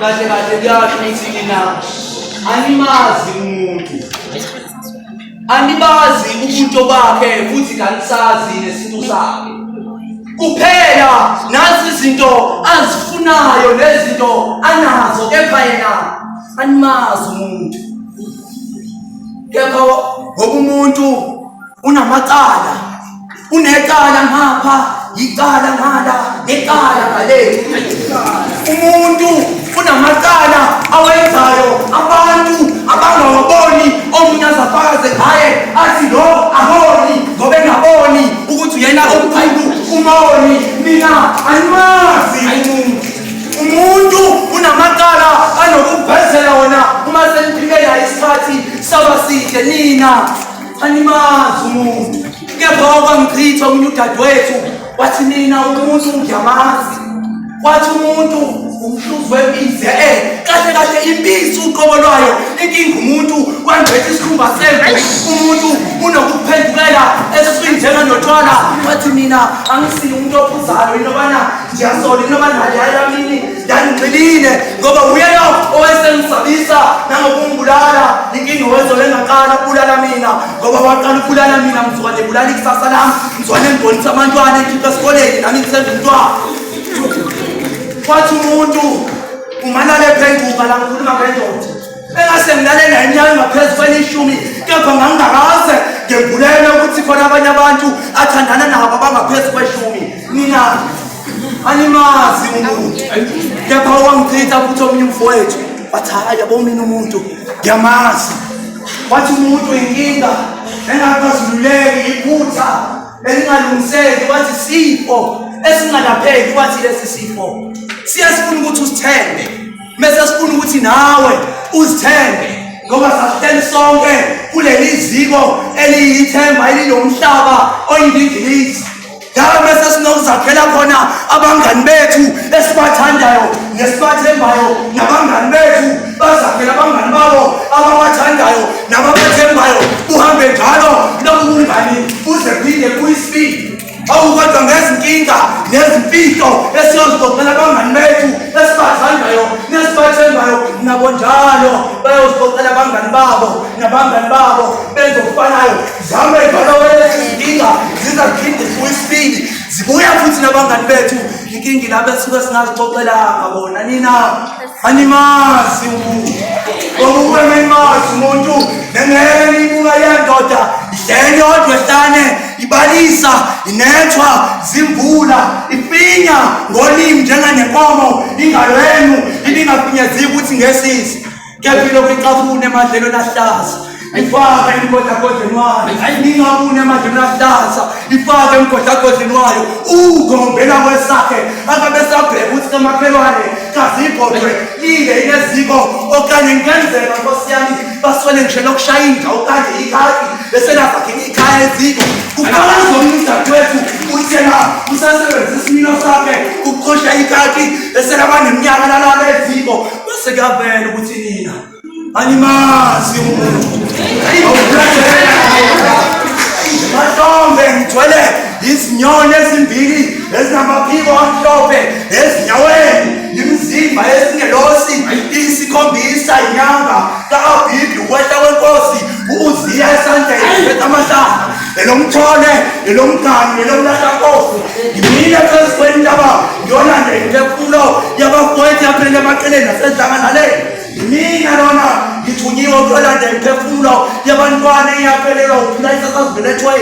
kahle kahle kuyasho ukuthi nina animazi umuntu anibazi ubuntu bakhe futhi kanisazi nesintu sakhe kuphela nazi izinto azifunayo nezinto anazo kepha yena animazi umuntu kepha ngoba umuntu unamacala unecala ngapha yicala ngala necala ngale umuntu unamacala awenzayo abantu abangawaboni omunye azafakaze ngaye athi lo ahoni ngoba engaboni ukuthi uyena omqhibu umoni mina andimazi umuntu umuntu unamacala anokuvezela wona uma seniphike naye isikhathi saba side nina Animazi umuntu kepha wakwangichitha omunye udadewethu wathi mina umuntu ngiyamazi wathi umuntu umhluzi wembizi e kahle kahle imbizi uqobo lwayo inkinga umuntu wangcwetha isikhumba semvu umuntu unokuphendukela eswini njenganotshwala wathi mina angisile umuntu ophuzalo inobana ngiyasola inobana yayamini Ngangigxilile ngoba uyena owayesengisabisa nangokungibulala inkinga wezole engaqala ukubulala mina ngoba waqala ukubulala mina ngizwane ebulala ikusasa lami ngizwane ngibonisa abantwana engikhipha esikoleni nami ngisenza umntwana kwathi umuntu umanale phenguka la ngikhuluma ngendoda Bengase ngilale ngenyanga ngaphezu kwelishumi kepha ngangingakaze ngembulele ukuthi khona abanye abantu athandana nabo abangaphezu kweshumi nina animazi umuntu kepha owangichitha futhi omunye umfowethu wathi hayi yabo mina umuntu ngiyamazi wathi umuntu inkinga engakazululeki iphutha elingalungiseki wathi sifo esingalapheki wathi lesi sifo siyasifuna ukuthi usithembe mese sifuna ukuthi nawe uzithenge ngoba sahleli sonke kuleli ziko eliyithemba elinomhlaba oyindingilizi ngalo mese sinokuzakhela khona abangani bethu esibathandayo nesibathembayo nabangani bethu bazakhela abangani babo ababathandayo nababathembayo uhambe njalo lobu bungani buze phinde kuyisibili awukodwa ngezinkinga nezimfihlo esiyozixoxela abangani bethu esibathandayo nesibathendayo nabo njalo bayozixoxela abangani babo nabangani babo benza okufanayo zame njalo wezinkinga zizaphinde zibuye isibili zibuya futhi nabangani bethu inkinga ilabo esuke singazixoxelanga bona nina animazi umuntu ngoba ukube menimazi umuntu nengeke niyibuka yendoda idlele yodwa ehlane ibalisa inethwa zimvula ifinya ngolimi njenganenkomo ingalo yenu ibingafinyeziki ukuthi ngesisi kepha ilokhu icafune emadlelweni ahlaza ifaka emgodagodleni wayo ningabuni emanjini ahlaza ifake emgodagodleni wayo ugombela kwesakhe akabe sabheka ukuthi kamakhelwane kazibhodwe lile ineziko okanye ngenzeka nkosi yami baswele ngisho lokushaya inja okanye ikati besenazakhe ikhaya eziko kuqala zomnudadewethu uthena usasebenzisa isimilo sakhe ukuqosha ikati beselaba neminyaka lalala eziko bese kuyavela ukuthi nina angimazi umuntu mahlombe ngithwele izinyoni ezimbili ezinamaphiko amhlophe ezinyaweni imizimba esingelosi isikhombisa inyanga ka-abhibhi ukwehla kwenkosi uziya esandleni phetha amahlahla elomthole elomgani elomlahlankosi ngimile phezu kwentaba ngiyolanda inkefulo yabafowethu yaphelele emaqeleni nasedlanganaleni Mina lona ngithunyiwe ukulanda imiphefumulo yabantwana eyaphelelwa ukuphila isasazibelethwe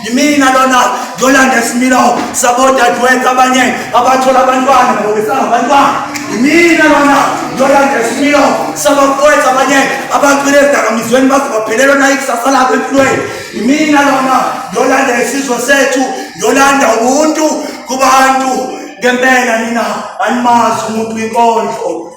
yimina lona ngiyolanda isimilo sabodadewethu abanye abathola abantwana ngoba besangabantwana yimina lona ngiyolanda isimilo sabafowethu abanye abacwile ezidakamizweni baze baphelelwa nayo ikusasa labo empilweni yimina lona ngiyolanda isizwe sethu ngiyolanda ubuntu kubantu ngempela nina animazi umuntu inkondlo